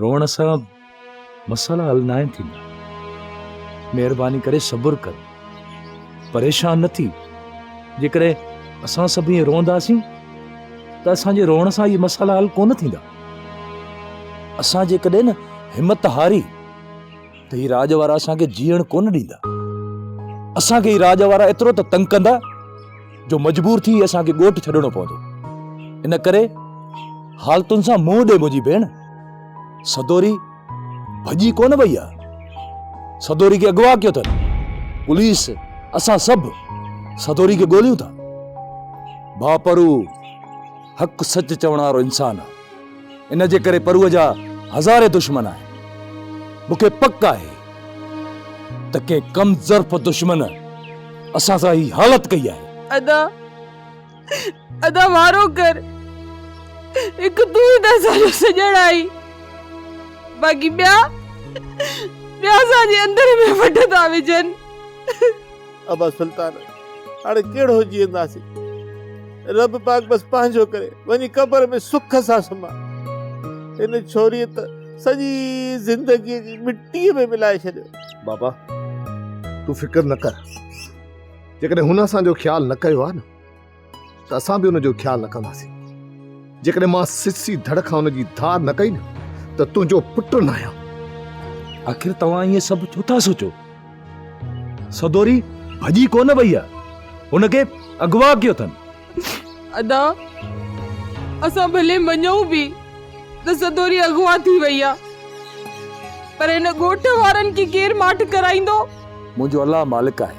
روئڻ سان مسئلا حل ناهن ٿيندا مهرباني ڪري صبر ڪر پريشان نه ٿي جيڪڏهن اسان سڀ ائين روئنداسين ته اسانجي روئڻ سان اهي مسئلا حل ڪونه ٿيندا اسان جيڪڏهن نه همت هاري ته هي راڄ وارا اسانکي جيئڻ ڪونه ڏيندا اسانکي هي راڄ وارا ايترو ته تنگ ڪندا جو مجبور ٿي اسان کي ڳوٺ ڇڏڻو پوندو. ان ڪري حالتن سان منهن ڏي منهنجي ڀيڻ. سدوري ڀڄي ڪونه وئي آ. سدوري کي اغوا ڪيو اٿن. پوليس اسان سڀ سدوري کي ڳوليون ٿا. ڀاپرو حق سچ چوڻ وارو انسان آ. ان جي ڪري پروء جا هزارين دشمن آهن. مون کي پڪ آهي ته ڪنهن ڪم ظرف دشمن اسان سان هي حالت ڪئي آهي. ادا ادا وارو ڪر هڪ تون ئي ته اسان جو سڄڻ آهين باقي ٻيا ٻيا اسان جي اندر ۾ وڍ ٿا وجهن. ابا سلطان هاڻي ڪهڙو جيئنداسين رب پاڪ بس پنهنجو ڪري وڃي قبر ۾ سک سان سمهه هن ڇوري ته سڄي زندگي جي مٽي ۾ ملائي ڇڏيو. بابا تون فڪر نه ڪر جيڪڏهن هن اسان جو خيال نه ڪيو آهي نه ته اسان به ان جو خيال رکنداسين. جيڪڏهن مان سسي ڌڙ کان ان جي ڌار نه ڪئي نه ته تنهنجو پٽ نه آهيان. آخر توهان ائين سڀ ڇو ٿا سوچو؟ سدوري ڀڄي ڪو نه وئي آهي. هن کي اغوا ڪيو اٿن. ادا اسان ڀلي مڃون به ته سدوري اغوا ٿي وئي آهي پر هن ڳوٺ وارن کي ڪير ماٺ ڪرائيندو؟ منهنجو الله مالڪ آهي.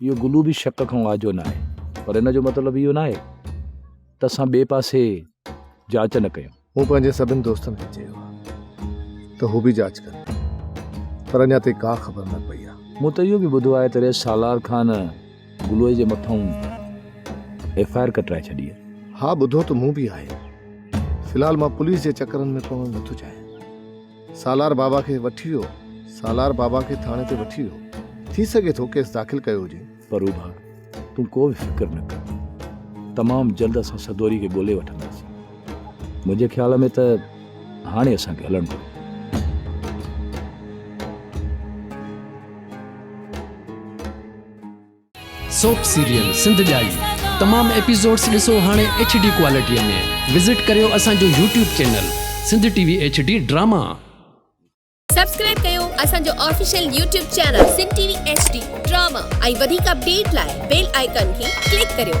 اهو گلو به شڪ کان آجو نه آهي پر ان جو مطلب اهو نه آهي ته اسان ٻئي پاسي جاچ نه ڪيون مون پنهنجي سڀن دوستن کي چيو ته هو به جاچ ڪن پر اڃا تائين ڪا خبر نه پئي آهي مون ته اهو به ٻڌو آهي ته رئيس سالار خان گلوئي جي مٿان ايف آء آر ڪٽرائي ڇڏي ها ٻڌو ته مون به آهي في الحال مان پوليس جي چڪرن ۾ پوڻ نٿو چاهيان سالار بابا کي وٺي ويو. سالار بابا کي ٿاڻي تي وٺي ويو. ٿي سگهي ٿو ڪيس داخل ڪيو هجين. پروڀا تون ڪو به فڪر نه ڪر. تمام جلد اسان سدوري کي ڳولي وٺنداسين. منهنجي خيال ۾ ته هاڻي اسان کي هلڻ گهري. سوپ سيريل سنڌ ڄائي تمام ايپيسوڊس ڏسو هاڻي ايڇ ڊي ڪوالٽي ۾ وزٽ ڪريو اسان جو YouTube channel Sindh T V H D drama. Subscribe ڪيو اسان جو official YouTube channel Sindh T V H D drama ۽ وڌيڪ اپڊيٽ لاء بيل آئيڪان کي ڪلڪ ڪريو.